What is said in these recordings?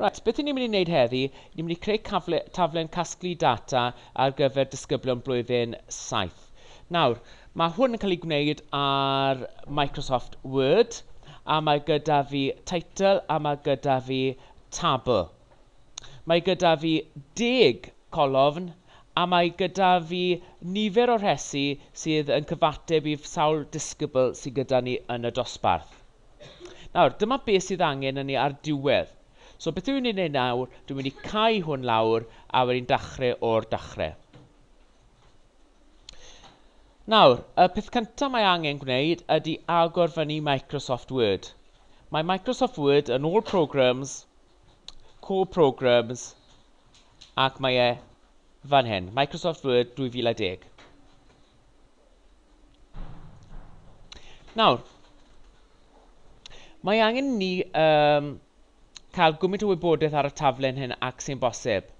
Right, beth ni'n mynd i wneud heddi, ni'n mynd i creu cafle, taflen casglu data ar gyfer disgyblion blwyddyn 7. Nawr, mae hwn yn cael ei gwneud ar Microsoft Word, a mae gyda fi title a mae gyda fi tabl. Mae gyda fi deg colofn a mae gyda fi nifer o rhesi sydd yn cyfateb i sawl disgybl sydd gyda ni yn y dosbarth. Nawr, dyma beth sydd angen yn ni ar diwedd. So beth dwi'n ei wneud nawr, dwi'n mynd i cau hwn lawr a wedyn dachrau o'r dachrau. Nawr, y peth cyntaf mae angen gwneud ydy agor fyny Microsoft Word. Mae Microsoft Word yn ôl Programs, Core Programs, ac mae e fan hyn, Microsoft Word 2010. Nawr, mae angen ni um, cael gwmynt o wybodaeth ar y taflen hyn ac sy'n bosib.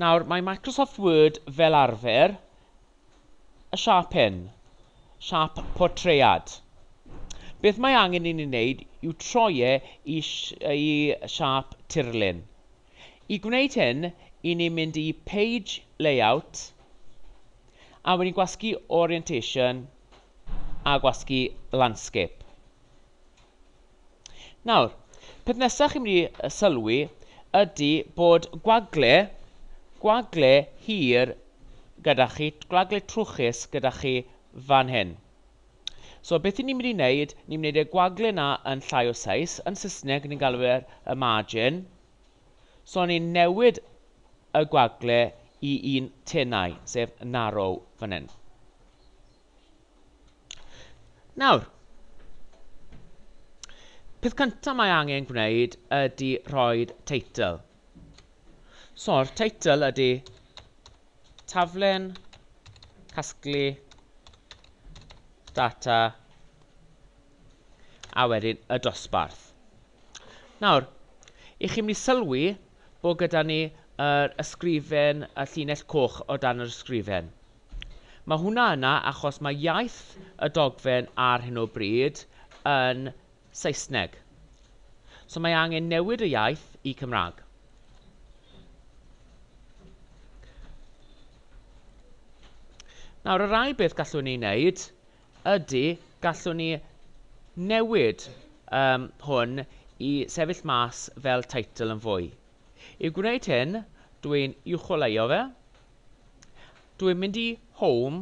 Nawr, mae Microsoft Word fel arfer y siap hyn, siap portread. Beth mae angen i ni wneud yw troi e i, i siap tirlun. I gwneud hyn, i ni'n mynd i Page Layout, a wedyn gwasgu Orientation, a gwasgu Landscape. Nawr, peth nesaf chi'n mynd i sylwi ydy bod gwagle, gwagle hir gyda chi, gwagle trwchus gyda chi fan hyn. So beth 'y ni'n mynd i wneud, ni'n mynd i wneud y gwagle 'na yn llai o seis, yn Saesneg ni'n galw fe'r y margin, so ni'n newid y gwagle i un tenau, sef narrow fan hyn. Nawr, peth cyntaf mae angen gwneud ydy rhoi teitl. So'r teitl ydy Taflen casglu data a wedyn y dosbarth. Nawr, i chi'n mynd i sylwi bod gyda ni yr ysgrifen, y llinell coch o dan yr ysgrifen. Mae hwnna yna achos mae iaith y dogfen ar hyn o bryd yn Saesneg. So mae angen newid y iaith i Cymraeg. Nawr, y rai beth gallwn ni wneud ydy gallwn ni newid um, hwn i sefyll mas fel teitl yn fwy. I gwneud hyn, dwi'n uwcholeuo fe. Dwi'n mynd i Home,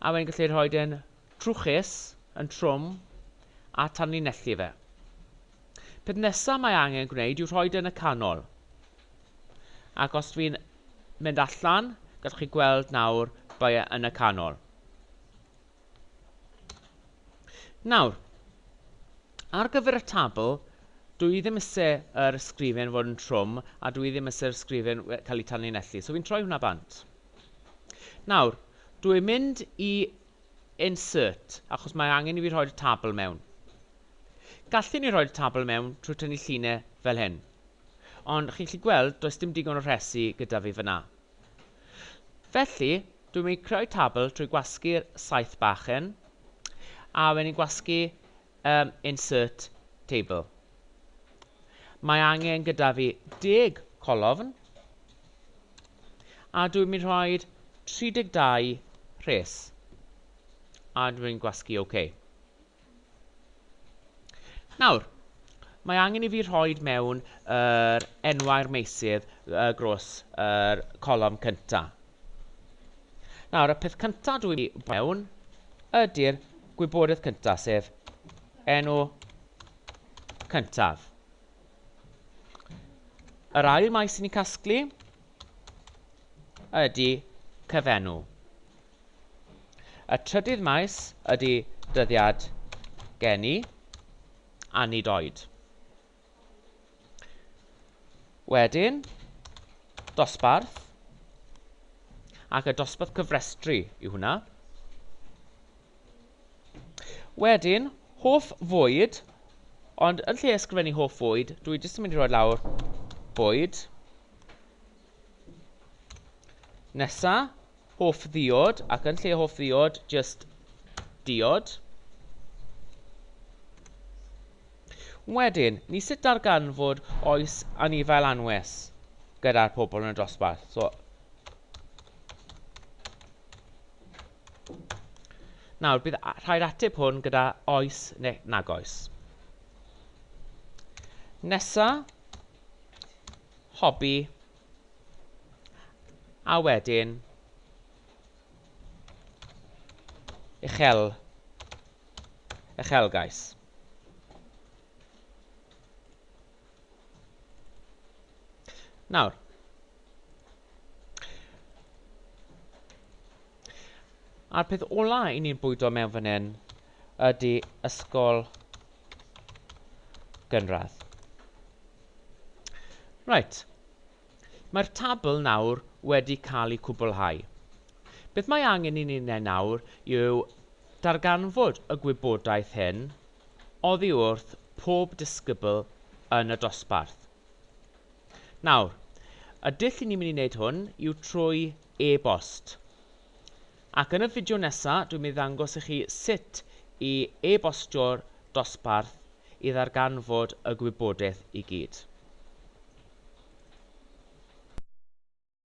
a wedyn gallu rhoi yn Trwchus, yn trwm, a tanlinellu fe. Peth nesa mae angen gwneud yw rhoi yn y canol. Ac os dwi'n mynd allan, gallwch chi gweld nawr bai e yn y canol. Nawr, ar gyfer y tabl, dwi ddim eisiau yr ysgrifen fod yn trwm a dwi ddim eisiau'r ysgrifen cael ei tanlinellu, so fi'n troi hwnna bant. Nawr, dwi'n mynd i Insert, achos mae angen i fi rhoi'r tabl mewn. Gallwn ni rhoi'r tabl mewn trwy tynnu llinell fel hyn. Ond chi'n gallu gweld does dim digon o rhesi gyda fi fyna. Felly, dwi'n mynd i creu tabl trwy gwasgu'r saeth bach hyn, a wedyn ni'n gwasgu um, insert table. Mae angen gyda fi deg colofn a dwi'n mynd rhoi 32 rhes a dwi'n gwasgu OK. Nawr, mae angen i fi rhoi mewn yr enwau'r meysydd dros y colofn cyntaf. Nawr, y peth cyntaf dwi'n mynd i mewn ydy'r gwybodaeth cyntaf, sef enw cyntaf. Yr ail maes sy'n ni'n casglu ydy cyfenw. Y trydydd maes ydy dyddiad geni a nid oed. Wedyn, dosbarth, ac y dosbarth cyfrestru yw hwnna. Wedyn, hoff fwyd, ond yn lle ysgrifennu hoff fwyd, dwi jyst yn mynd i roi lawr bwyd. Nesa, Hoff ddiod, ac yn lle hoff ddiod, jyst diod. Wedyn, ni sut darganfod oes anifail anwes gyda'r pobl yn y dosbarth. So, Nawr, bydd rhaid ateb hwn gyda oes neu nag oes. Nesa, hobi A wedyn, uchel, uchelgais. Nawr, a'r peth ola i ni'n bwydo mewn fan hyn ydy ysgol gynradd. Reit. Mae'r tabl nawr wedi cael ei cwblhau. Beth mae angen i ni wneud nawr yw darganfod y gwybodaeth hyn oddi wrth pob disgybl yn y dosbarth. Nawr, y dull i ni'n mynd i wneud hwn yw trwy e-bost. Ac yn y fideo nesa dwi'n mynd i ddangos i chi sut i e-bostio'r dosbarth i ddarganfod y gwybodaeth i gyd.